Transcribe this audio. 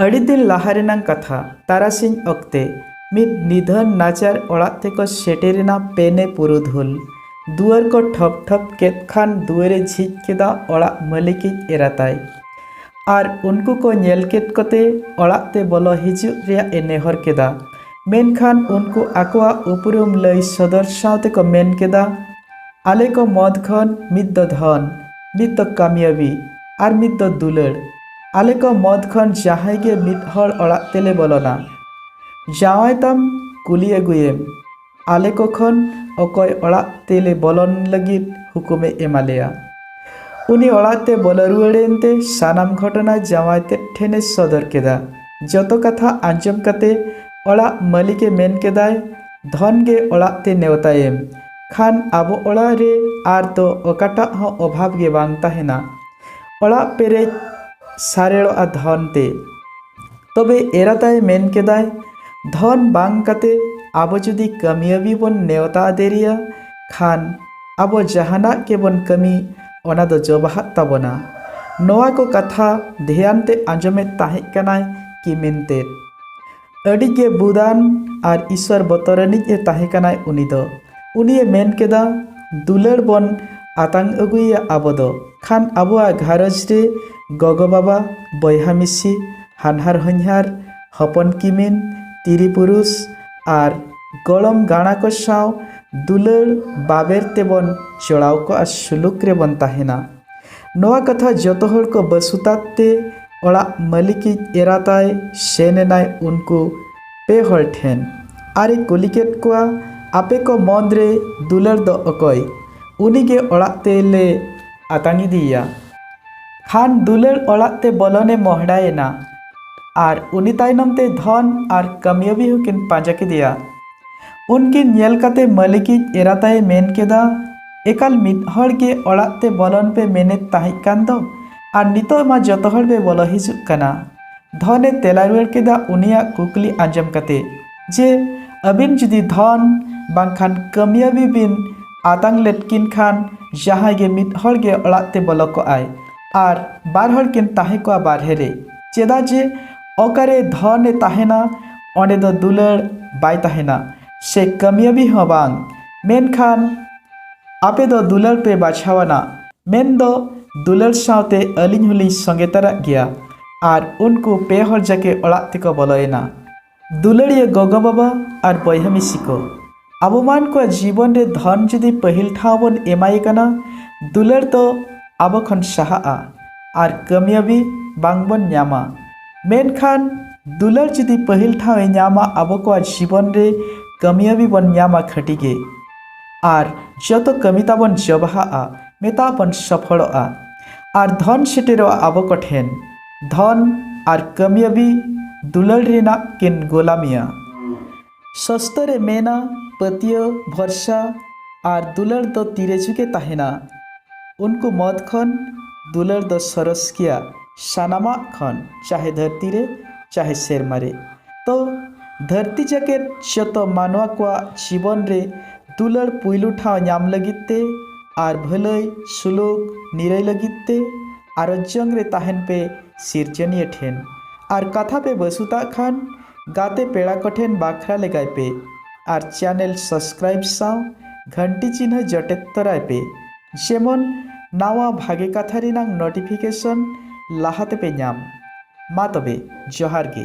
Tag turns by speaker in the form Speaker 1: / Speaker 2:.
Speaker 1: ᱟᱹᱰᱤ ᱫᱤᱱ ᱞᱟᱦᱟ ᱨᱮᱱᱟᱝ ᱠᱟᱛᱷᱟ ᱛᱟᱨᱟᱥᱤᱧ ᱚᱠᱛᱮ ᱢᱤᱫ ᱱᱤᱫᱷᱟᱹᱱ ᱱᱟᱪᱟᱨ ᱚᱲᱟᱜ ᱛᱮᱠᱚ ᱥᱮᱴᱮᱨᱮᱱᱟ ᱯᱮᱱᱮ ᱯᱩᱨᱩᱫᱷᱩᱞ ᱫᱩᱣᱟᱹᱨ ᱠᱚ ᱴᱷᱚᱯ ᱴᱷᱚᱯ ᱠᱮᱫ ᱠᱷᱟᱱ ᱫᱩᱣᱟᱹᱨᱮ ᱡᱷᱤᱡ ᱠᱮᱫᱟ ᱚᱲᱟᱜ ᱢᱟᱹᱞᱤᱠᱤᱡ ᱮᱨᱟᱛᱟᱭ ᱟᱨ ᱩᱱᱠᱩ ᱠᱚ ᱧᱮᱞ ᱠᱮᱫ ᱠᱚᱛᱮ ᱚᱲᱟᱜ ᱛᱮ ᱵᱚᱞᱚ ᱦᱤᱡᱩᱜ ᱨᱮᱭᱟᱜ ᱮ ᱱᱮᱦᱚᱨ ᱠᱮᱫᱟ ᱢᱮᱱᱠᱷᱟᱱ ᱩᱱᱠᱩ ᱟᱠᱚᱣᱟᱜ ᱩᱯᱨᱩᱢ ᱞᱟᱹᱭ ᱥᱚᱫᱚᱨ ᱥᱟᱶᱛᱮ ᱠᱚ ᱢᱮᱱ ᱠᱮᱫᱟ ᱟᱞᱮ ᱠᱚ ᱢᱚᱫᱽ ᱠᱷᱚᱱ ᱢᱤᱫ ᱫᱚ ᱫᱷᱚᱱ, ᱢᱤᱫ ᱫᱚ ᱠᱟᱢᱭᱟᱵᱤ ᱟᱨ ᱢᱤᱫ ᱫᱚ ᱫᱩᱞᱟᱹᱲ᱾ ᱟᱞᱮ ᱠᱚ ᱢᱚᱫᱽ ᱠᱷᱚᱱ ᱡᱟᱦᱟᱸᱭ ᱜᱮ ᱢᱤᱫ ᱦᱚᱲ ᱚᱲᱟᱜ ᱛᱮᱞᱮ ᱵᱚᱞᱚᱱᱟ, ᱡᱟᱶᱟᱭ ᱛᱟᱢ ᱠᱩᱞᱤ ᱟᱹᱜᱩᱭᱮᱢ ᱟᱞᱮ ᱠᱚ ᱠᱷᱚᱱ ᱚᱠᱚᱭ ᱚᱲᱟᱜ ᱛᱮᱞᱮ ᱵᱚᱞᱚᱱ ᱞᱟᱹᱜᱤᱫ ᱦᱩᱠᱩᱢ ᱮ ᱮᱢᱟ ᱞᱮᱭᱟ᱾ ᱩᱱᱤ ᱚᱲᱟᱜ ᱛᱮ ᱵᱚᱞᱚ ᱨᱩᱣᱟᱹᱲ ᱮᱱ ᱛᱮ ᱥᱟᱱᱟᱢ ᱜᱷᱚᱴᱚᱱᱟ ᱡᱟᱶᱟᱭ ᱛᱮᱫ ᱴᱷᱮᱱ ᱮ ᱥᱚᱫᱚᱨ ᱠᱮᱫᱟ᱾ ᱡᱚᱛᱚ ᱠᱟᱛᱷᱟ ᱟᱸᱡᱚᱢ ᱠᱟᱛᱮ ᱚᱲᱟᱜ ᱢᱟᱹᱞᱤᱠ ᱮ ᱢᱮᱱ ᱠᱮᱫᱟᱭ, ᱫᱷᱚᱱ ᱜᱮ ᱚᱲᱟᱜ ᱛᱮ ᱱᱮᱣᱛᱟᱭᱮᱢ᱾ ᱠᱷᱟᱱ ᱟᱵᱚ ᱚᱲᱟᱜ ᱨᱮ ᱟᱨ ᱫᱚ ᱚᱠᱟᱴᱟᱜ ᱦᱚᱸ ᱚᱵᱷᱟᱵᱽ ᱜᱮ ᱵᱟᱝ ᱛᱟᱦᱮᱱᱟ ᱚᱲᱟᱜ ᱯᱮᱨᱮᱡ ᱥᱟᱨᱮᱲᱚᱜᱼᱟ ᱫᱷᱚᱱ ᱛᱮ ᱛᱚᱵᱮ ᱮᱨᱟ ᱛᱟᱭ ᱢᱮᱱ ᱠᱮᱫᱟᱭ ᱫᱷᱚᱱ ᱵᱟᱝ ᱠᱟᱛᱮ ᱟᱵᱚ ᱡᱩᱫᱤ ᱠᱟᱹᱢᱤᱭᱟᱹᱵᱤ ᱵᱚᱱ ᱱᱮᱣᱛᱟ ᱫᱮᱨᱤᱭᱟ ᱠᱷᱟᱱ ᱟᱵᱚ ᱡᱟᱦᱟᱱᱟᱜ ᱜᱮᱵᱚᱱ ᱠᱟᱹᱢᱤ ᱚᱱᱟ ᱫᱚ ᱡᱚᱵᱟᱦᱟᱜ ᱛᱟᱵᱚᱱᱟ ᱱᱚᱣᱟ ᱠᱚ ᱠᱟᱛᱷᱟ ᱫᱷᱮᱭᱟᱱ ᱛᱮ ᱟᱸᱡᱚᱢᱮᱫ ᱛᱟᱦᱮᱸ ᱠᱟᱱᱟᱭ ᱠᱤᱢᱤᱱ ᱛᱮᱫ ᱟᱹᱰᱤ ᱜᱮ ᱵᱩᱫᱟᱱ ᱟᱨ ᱤᱥᱣᱚᱨ ᱵᱚᱛᱚᱨᱟᱱᱤᱡ ᱮ ᱛᱟᱦᱮᱸ ᱠᱟᱱᱟᱭ ᱩᱱᱤ ᱫᱚ ᱩᱱᱤᱭᱮ ᱢᱮᱱ ᱠᱮᱫᱟ ᱫᱩᱞᱟᱹᱲ ᱵᱚᱱ ᱟᱛᱟᱝ ᱟᱹᱜᱩᱭᱮᱭᱟ ᱟᱵᱚ ᱫᱚ ᱠᱷᱟᱱ ᱟᱵᱚᱣᱟᱜ ᱜᱷᱟᱨᱚᱸᱡᱽ ᱨᱮ ᱜᱚᱜᱚ ᱵᱟᱵᱟ ᱵᱚᱭᱦᱟ ᱢᱤᱥᱤ ᱦᱟᱱᱦᱟᱨ ᱦᱚᱧᱦᱟᱨ ᱦᱚᱯᱚᱱ ᱠᱤᱢᱤᱱ ᱛᱤᱨᱤ ᱯᱩᱨᱩᱥ ᱟᱨ ᱜᱚᱲᱚᱢ ᱜᱟᱬᱟ ᱠᱚ ᱥᱟᱶ ᱫᱩᱞᱟᱹᱲ ᱵᱟᱵᱮᱨ ᱛᱮᱵᱚᱱ ᱡᱚᱲᱟᱣ ᱠᱚᱜᱼᱟ ᱥᱩᱞᱩᱠ ᱨᱮᱵᱚᱱ ᱛᱟᱦᱮᱱᱟ ᱱᱚᱣᱟ ᱠᱟᱛᱷᱟ ᱡᱚᱛᱚ ᱦᱚᱲ ᱠᱚ ᱵᱟᱹᱥᱩᱛᱟᱛ ᱛᱮ ᱚᱲᱟᱜ ᱢᱟᱹᱞᱤᱠᱤᱡ ᱮᱨᱟ ᱛᱟᱭ ᱥᱮᱱ ᱮᱱᱟᱭ ᱩᱱᱠᱩ ᱯᱮ ᱦᱚᱲ ᱴᱷᱮᱱ ᱟᱨ ᱮ ᱠᱩᱞᱤ ᱠᱮᱫ ᱠᱚᱣᱟ ᱟᱯᱮ ᱠᱚ ᱢᱚᱫᱽ ᱨᱮ ᱫᱩᱞᱟᱹᱲ ᱫᱚ ᱚᱠᱚᱭ ᱩᱱᱤ ᱜᱮ ᱚᱲᱟᱜ ᱛᱮ ᱞᱮ ᱟᱛᱟᱝ ᱤᱫᱤᱭᱮᱭᱟ ᱠᱷᱟᱱ ᱫᱩᱞᱟᱹᱲ ᱚᱲᱟᱜ ᱛᱮ ᱵᱚᱞᱚᱱ ᱮ ᱢᱚᱦᱰᱟ ᱮᱱᱟ ᱟᱨ ᱩᱱᱤ ᱛᱟᱭᱱᱚᱢ ᱛᱮ ᱫᱷᱚᱱ ᱟᱨ ᱠᱟᱹᱢᱤᱭᱟᱹᱵᱤ ᱦᱚᱸ ᱠᱤᱱ ᱯᱟᱸᱡᱟ ᱠᱮᱫᱮᱭᱟ ᱩᱱᱠᱤᱱ ᱧᱮᱞ ᱠᱟᱛᱮ ᱢᱟᱹᱞᱤᱠᱤᱡ ᱮᱨᱟ ᱛᱟᱭ ᱢᱮᱱ ᱠᱮᱫᱟ ᱮᱠᱟᱞ ᱢᱤᱫ ᱦᱚᱲ ᱜᱮ ᱚᱲᱟᱜ ᱛᱮ ᱵᱚᱞᱚᱱ ᱯᱮ ᱢᱮᱱᱮᱫ ᱛᱟᱦᱮᱸ ᱠᱟᱱ ᱫᱚ ᱟᱨ ᱱᱤᱛᱚᱜ ᱢᱟ ᱡᱚᱛᱚ ᱦᱚᱲ ᱯᱮ ᱵᱚᱞᱚ ᱦᱤᱡᱩᱜ ᱠᱟᱱᱟ ᱫᱷᱚᱱᱮ ᱛᱮᱞᱟ ᱨᱩᱣᱟᱹᱲ ᱠᱮᱫᱟ ᱩᱱᱤᱭᱟᱜ ᱠᱩᱠᱞᱤ ᱟᱸᱡᱚᱢ ᱠᱟᱛᱮ ᱡᱮ ᱟᱹᱵᱤᱱ ᱡᱩᱫᱤ ᱫᱷᱚᱱ ᱵᱟᱝᱠᱷᱟᱱ ᱠᱟᱹᱢᱤᱭᱟᱹᱵᱤ ᱵᱤᱱ ᱟᱛᱟᱝ ᱞᱮᱫ ᱠᱤᱱ ᱠᱷᱟᱱ ᱡᱟᱦᱟᱸᱭ ᱜᱮ ᱢᱤᱫ ᱦᱚᱲ ᱜᱮ ᱚᱲᱟᱜ ᱛᱮ ᱵᱚᱞᱚ ᱠᱚᱜ ᱟᱭ ᱟᱨ ᱵᱟᱨ ᱦᱚᱲ ᱠᱤᱱ ᱛᱟᱦᱮᱸ ᱠᱚᱜᱼᱟ ᱵᱟᱨᱦᱮ ᱨᱮ ᱪᱮᱫᱟᱜ ᱡᱮ ᱚᱠᱟᱨᱮ ᱫᱷᱚᱱᱮ ᱛᱟᱦᱮᱱᱟ ᱚᱸᱰᱮ ᱫᱚ ᱫᱩᱞᱟᱹᱲ ᱵᱟᱭ ᱛᱟᱦᱮᱱᱟ ᱥᱮ ᱠᱟᱹᱢᱤᱭᱟᱹᱵᱤ ᱦᱚᱸ ᱵᱟᱝ ᱢᱮᱱᱠᱷᱟᱱ ᱟᱯᱮ ᱫᱚ ᱫᱩᱞᱟᱹᱲ ᱯᱮ ᱵᱟᱪᱷᱟᱣᱟᱱᱟ ᱢᱮᱱ ᱫᱚ ᱫᱩᱞᱟᱹᱲ ᱥᱟᱶᱛᱮ ᱟᱹᱞᱤᱧ ᱦᱚᱞᱤᱧ ᱥᱚᱸᱜᱮ ᱛᱟᱨᱟᱜ ᱜᱮᱭᱟ ᱟᱨ ᱩᱱᱠᱩ ᱯᱮ ᱦᱚᱲ ᱡᱟᱠᱮ ᱚᱲᱟᱜ ᱛᱮᱠᱚ ᱵᱚᱞᱚᱭᱮᱱᱟ ᱫᱩᱞᱟᱹᱲᱤᱭᱟᱹ ᱜᱚᱜᱚ ᱵᱟᱵᱟ ᱟᱨ ᱵᱚᱭᱦᱟ ᱢᱤᱥᱤ ᱠᱚ ᱟᱵᱚ ᱢᱟᱱ ᱠᱚᱣᱟᱜ ᱡᱤᱵᱚᱱ ᱨᱮ ᱫᱷᱚᱱ ᱡᱩᱫᱤ ᱯᱟᱹᱦᱤᱞ ᱴᱷᱟᱶ ᱵᱚᱱ ᱮᱢᱟᱭ ᱠᱟᱱᱟ ᱫᱩᱞᱟᱹᱲ ᱫᱚ ᱟᱵᱚ ᱠᱷᱚᱱ ᱥᱟᱦᱟᱜᱼᱟ ᱟᱨ ᱠᱟᱹᱢᱭᱟᱹᱵᱤ ᱵᱟᱝ ᱵᱚᱱ ᱧᱟᱢᱟ ᱢᱮᱱᱠᱷᱟᱱ ᱫᱩᱞᱟᱹᱲ ᱡᱩᱫᱤ ᱯᱟᱹᱦᱤᱞ ᱴᱷᱟᱶ ᱮ ᱧᱟᱢᱟ ᱟᱵᱚ ᱠᱚᱣᱟᱜ ᱡᱤᱵᱚᱱ ᱨᱮ ᱠᱟᱹᱢᱤᱭᱟᱹᱵᱤ ᱵᱚᱱ ᱧᱟᱢᱟ ᱠᱷᱟᱹᱴᱤ ᱜᱮ ᱟᱨ ᱡᱚᱛᱚ ᱠᱟᱹᱢᱤ ᱛᱟᱵᱚᱱ ᱡᱚᱵᱟᱦᱟᱜᱼᱟ ᱢᱮᱛᱟ ᱵᱚᱱ ᱥᱚᱯᱷᱚᱲᱚᱜᱼᱟ ᱟᱨ ᱫᱷᱚᱱ ᱥᱮᱴᱮᱨᱚᱜᱼᱟ ᱟᱵᱚ ᱠᱚ ᱴᱷᱮᱱ ᱫᱷᱚᱱ ᱟᱨ ᱠᱟᱹᱢᱤᱭᱟᱹᱵᱤ ᱫᱩᱞᱟᱹᱲ ᱨᱮᱱᱟᱜ ᱠᱤᱱ ᱜᱳᱞᱟᱢᱤᱭᱟ ᱥᱚᱥᱛᱚ ᱨᱮ ᱢᱮᱱᱟ ᱯᱟᱹᱛᱭᱟᱹᱣ, ᱵᱷᱚᱨᱥᱟ ᱟᱨ ᱫᱩᱞᱟᱹᱲ ᱫᱚ ᱛᱤᱨᱮ ᱡᱷᱩᱠᱮ ᱛᱟᱦᱮᱱᱟ᱾ ᱩᱱᱠᱩ ᱢᱚᱫᱽ ᱠᱷᱚᱱ ᱫᱩᱞᱟᱹᱲ ᱫᱚ ᱥᱚᱨᱚᱥ ᱜᱮᱭᱟ ᱥᱟᱱᱟᱢᱟᱜ ᱠᱷᱚᱱ ᱪᱟᱦᱮ ᱫᱷᱟᱹᱨᱛᱤ ᱨᱮ ᱪᱟᱦᱮ ᱥᱮᱨᱢᱟ ᱨᱮ᱾ ᱛᱚ ᱫᱷᱟᱹᱨᱛᱤ ᱡᱟᱠᱮᱛ ᱡᱚᱛᱚ ᱢᱟᱱᱣᱟ ᱠᱚᱣᱟᱜ ᱡᱤᱵᱚᱱ ᱨᱮ ᱫᱩᱞᱟᱹᱲ ᱯᱩᱭᱞᱩ ᱴᱷᱟᱶ ᱧᱟᱢ ᱞᱟᱹᱜᱤᱫ ᱛᱮ ᱟᱨ ᱵᱷᱟᱹᱞᱟᱹᱭ, ᱥᱩᱞᱩᱠ, ᱱᱤᱨᱟᱹᱭ ᱞᱟᱹᱜᱤᱫ ᱛᱮ ᱟᱨᱚᱡᱽᱡᱚᱝ ᱨᱮ ᱛᱟᱦᱮᱱ ᱯᱮ ᱥᱤᱨᱡᱚᱱᱤᱭᱟᱹ ᱴᱷᱮᱱ᱾ ᱟᱨ ᱠᱟᱛᱷᱟ ᱯᱮ ᱵᱟᱹᱥᱩᱛᱟᱜ ᱠᱷᱟᱱ᱾ ᱜᱟᱛᱮ ᱯᱮᱲᱟ ᱠᱚ ᱴᱷᱮᱱ ᱵᱟᱠᱷᱨᱟ ᱞᱮᱜᱟᱭ ᱯᱮ ᱟᱨ ᱪᱮᱱᱮᱞ ᱥᱟᱵᱥᱠᱨᱟᱭᱤᱵ ᱥᱟᱶ ᱜᱷᱟᱱᱴᱤ ᱪᱤᱱᱦᱟᱹ ᱡᱚᱴᱮᱫ ᱛᱚᱨᱟᱭ ᱯᱮ ᱡᱮᱢᱚᱱ ᱱᱟᱣᱟ ᱵᱷᱟᱜᱮ ᱠᱟᱛᱷᱟ ᱨᱮᱱᱟᱝ ᱱᱚᱴᱤᱯᱷᱤᱠᱮᱥᱚᱱ ᱞᱟᱦᱟ ᱛᱮᱯᱮ ᱧᱟᱢ᱾ ᱢᱟ ᱛᱚᱵᱮ ᱡᱚᱦᱟᱨ ᱜᱮ᱾